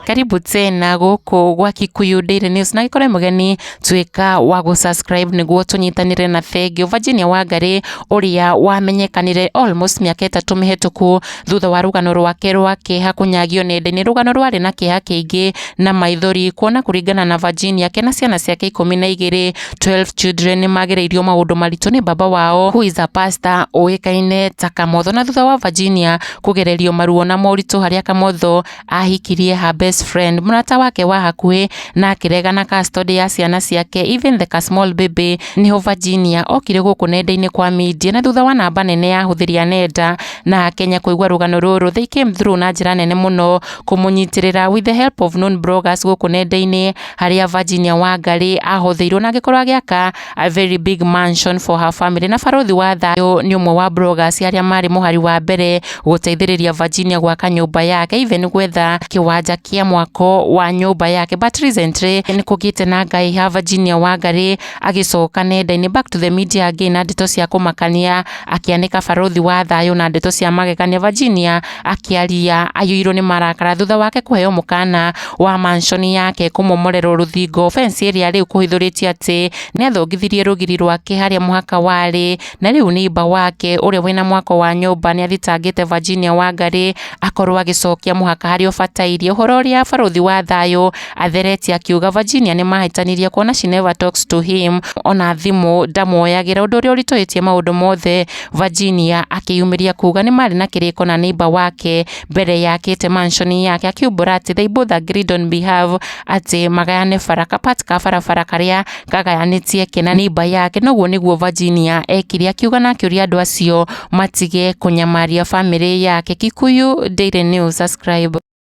karibu tena guku gwa Kikuyu Daily News na ikore mugeni twika wa gu subscribe niguo tunyitanire na Bengi Virginia Wangari uria wamenyekanire almost miaka itatu mihituku thutha wa rugano rwake rwa kiha kunyagio nenda-ini rugano rwari na kiha kiingi na maithori kuona kuringana na Virginia kena ciana ciake ikumi na igiri 12 children nĩ magereirio maũndũ maritũ nĩ baba wao who is a pastor ũĩkaine ta Kamotho na thutha wa Virginia kũgererio maruo na moritũ harĩa Kamotho ahikirie her best friend mũrata wake wa hakuhĩ na akĩrega na custody ya ciana ciake even the small baby nĩho Virginia okire gũkũ nenda-inĩ kwa media na thutha wa namba nene ya hũthĩri a nenda na Kenya kũigua rũgano rũrũ they came through na njĩra nene mũno kũmũnyitĩrĩra with the help of known bloggers gũkũ nenda-inĩ harĩa Virginia Wangari ahotheirwo na agĩkorwo agĩaka a very big mansion for her family na barothi wa thayũ nĩ ũmwe wa bloggers arĩa marĩ mũhari wa mbere gũteithĩrĩria Virginia gwaka nyũmba yake even gwetha kĩwanja kĩa mwako wa nyũmba yake but recently nĩ kũgĩte na ngai ha Virginia Wangari agĩcoka nenda-inĩ back to the media again na ndeto cia kũmakania akĩanĩka barothi wa thayũ na ndeto cia magegania Virginia Akĩaria aiyũirwo nĩ marakara thutha wake kũheo mũkana wa mansion yake kũmomorerwo rũthingo fence ĩrĩa rĩu kũhithũrĩtio atĩ nĩathongithirie rũgiri rwake harĩa mũhaka warĩ na rĩu nĩimba wake ũrĩa wĩna mwaka wa nyũmba nĩathitangĩte Virginia Wangarĩ akorwo agĩcokia mũhaka harĩa ũbatairie ũhoro ũrĩa barũthi wa thayũ atheretie akiuga Virginia nĩmahĩtanirie kuona she never talks to him ona thimũ ndamuoyagĩra ũndũ ũrĩa ũritũhĩtie maũndũ mothe Virginia akĩyumĩria kuuga nĩ marĩ na kĩrĩko na neighbor wake mbere yakĩte mansion yake akiumbũra atĩ they both agreed on behalf atĩ magayane bara ka part ka barabara karĩa gagayanĩtie ke na neighbor yake noguo nĩguo Virginia ekire akiuga na akĩũria andũ acio matige kũnyamaria family yake Kikuyu Daily News subscribe